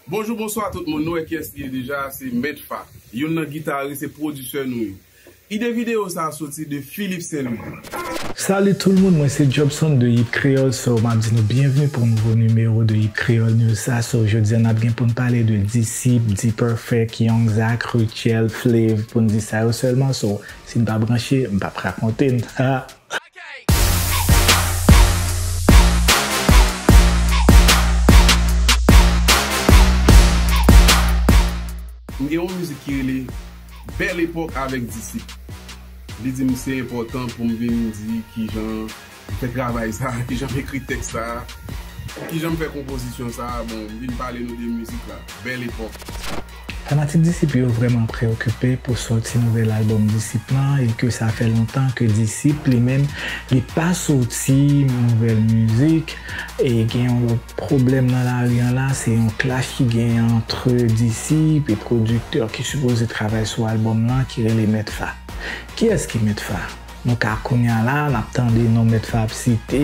Bonjou bonswa tout moun nou wè kiyès li ye deja se mèt fa youn nan guitarist e producer nou yo ide video sa a soti de Philippe Saint Louis. Salut tout moun mwen se Jobson de Hit Creole so map di nou byenvni pou yon nouvo nimewo de Hit Creole News sa so jodi an nap gen poun pale de Disip, D-Perfect, Young Zack, Rutshelle, Flav poun di sa yo sèlman so sin pa branche mpap rakonte n ha. M gen yon mizik ki rele Bèl epòk avèk Disip. Li di m se enpòtan pou m vin di kijan m fè travay sa a, kijan m ekri tèks sa a, kijan m fè konpozisyon sa a. Bon, m vin pale nou de mizik la, Bèl epòk. Fanatik Disip yo vrèman preyokipe pou sòti nouvèl albòm Disip lan e ke sa fè lontan ke Disip li menm li pa sòti nouvèl mizik e gen yon lòt pwoblèm nan lari an la se yon clash ki genyen antre Disip e pwodiktè ki sipoze travay sou albòm lan ki rele Mèt Fa. Kiyès ki Mèt Fa? Nou ka kounya la nap tande non mèt fa ap site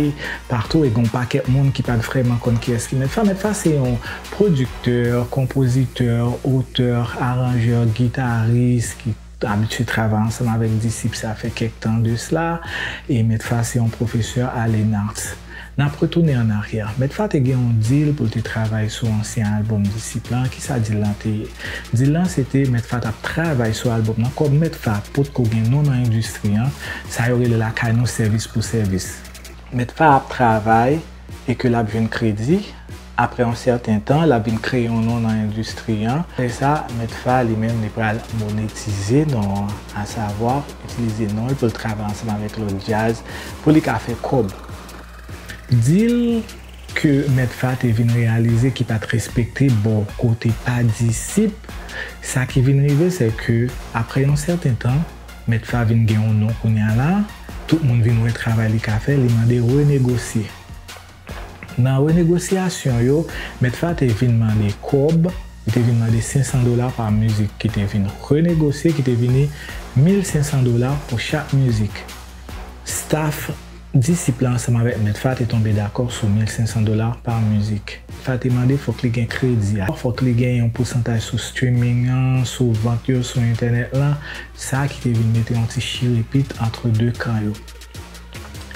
patou e gen yon pakèt moun ki pat vrèman konn kiyès ki mèt fa, mèt fa se yon pwodiktè, konpozitè, otè, aranjè, gitaris ki abitye travay ansanm avèk disip sa fè kèk tan de sla e mèt fa se yon pwofesè a Lenarts. N ap retounen ann aryè. Medfa te gen yon dil pou l te travay sou ansyen albòm Disip lan. Ki sa dil lan te ye? Dil lan se te Medfa t ap travay sou albòm lan. Kòm Medfa potko gen non nan endistri an, sa yo rele lakay nou sèvis pou sèvis. Medfa ap travay e ke l ap jwenn kredi. Aprè yon sèten tan, l ap vin kreye yon non nan endistri an. Aprè sa, Mèt Fa, li menm, li pral monetize non an, asavwa, itilize non l pou l travay ansanm avèk lòt djaz pou li ka fè kòb. Dil ke Mèt Fa te vin reyalize ki pa t respekte bò kote pa disip, sa ki vin rive sè ke aprè yon sèten tan, Mèt Fa vin gen yon non kounye a la, tout moun vin wè travay li ka fè, li mande renegosye. Nan renegosyasyon yo, Mèt Fa te vin mande kòb, li te vin mande 500 dola pa mizik ki te vin renegosye ki te vini 1500 dola pou chak mizik. Staf Disip la ansanm avèk Mèt Fa te tonbe dakò sou 1500 dola pa mizik. Fa te mande fòk li gen kredi a, fòk li gen yon pousantaj sou streaming an, sou vant yo sou entènèt lan, sa ki te vin mete yon ti chirepit antre 2 kan yo.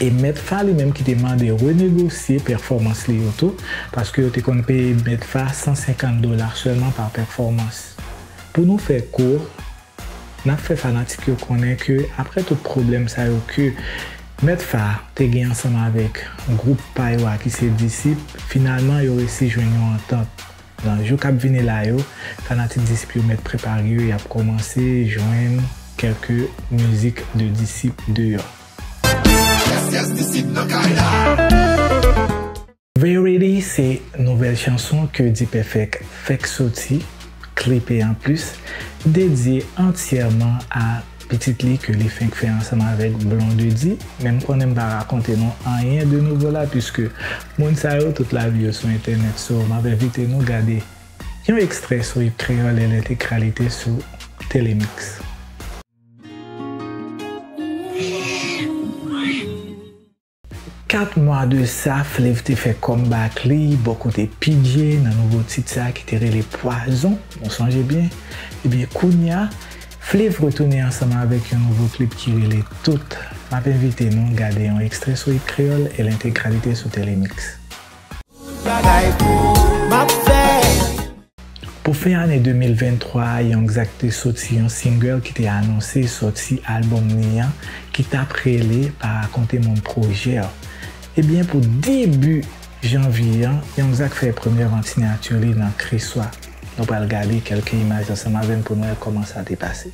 E mèt fa li menm ki te mande renegosye pèfòmans li yo tou, paske yo te konn peye mèt fa 150 dola sèlman pa pèfòmans. Pou nou fè kour, n ap fè fanatik yo konnen ke aprè tout pwoblèm sa yo ke mèt fa te gen ansanm avèk gwoup pa yo a ki se Disip, finalman yo resi jwenn yon antant. Nan jou k ap vini la yo, fanatik disip yo mèt prepare yo y ap kòmanse jwenn kèlke mizik de disip deyò. Yes yes disip nan kay la. Verity se nouvèl chanson ke Dpèfèk fèk soti, klipe anplis, dedye antyèman a. Pitit li ke li fenk fè ansanm avèk Blondedy, men m konnen m pa rakonte nou anyen de nouvo la puiske moun sa yo tout lavi yo sou entènèt so m ap envite nou gade yon ekstrè sou Hit Kreyòl en entegralite sou Telemix. 4 mwa de sa, Flev te fè comeback li bò kote Pidje nan nouvo tit sa ki te rele Pwazon, nou sonje byen? Ebyen kounya, Flev retounen ansanm avèk yon nouvo klip ki rele Tout. M ap envite nou gade yon ekstrè sou It Kreyòl e l entegralite sou Telemix. Pou fen ane 2023 a Young Zack te soti yon single ki te anonse sòti albòm li an ki t ap rele Pa Rakonte Moun Pwojè w. Ebyen pou debi janvye an Young Zack fè premye vansinati li nan Kriswa. Nou pral gade kèlke imaj ansanm avè m pou n wè kòman sa te pase.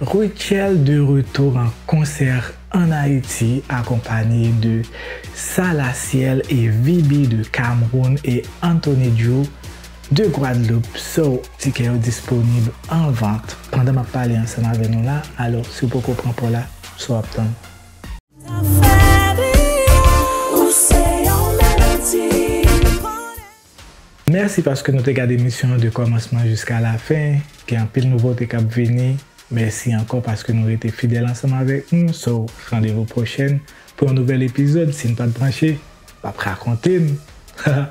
Rutshelle de retour en concert en Haïti akonpanye de Sa La Ciel et Viby de Cameroun et Anthony Drew de Guadeloupe so tikè yo disponib an vant pandan map pale ansanm avè nou la alò si w poko pran paw la sa wap tann. Mèsi paske nou te gad emisyon an de kòmansman jiska lafen, gen anpil nouvote kap vini, mèsi ankò paske nou rete fidèl ansanm avèk nou, so randevou pwochèn pou yon nouvèl epizòd, sin pat branche, pap rakonte n, haha.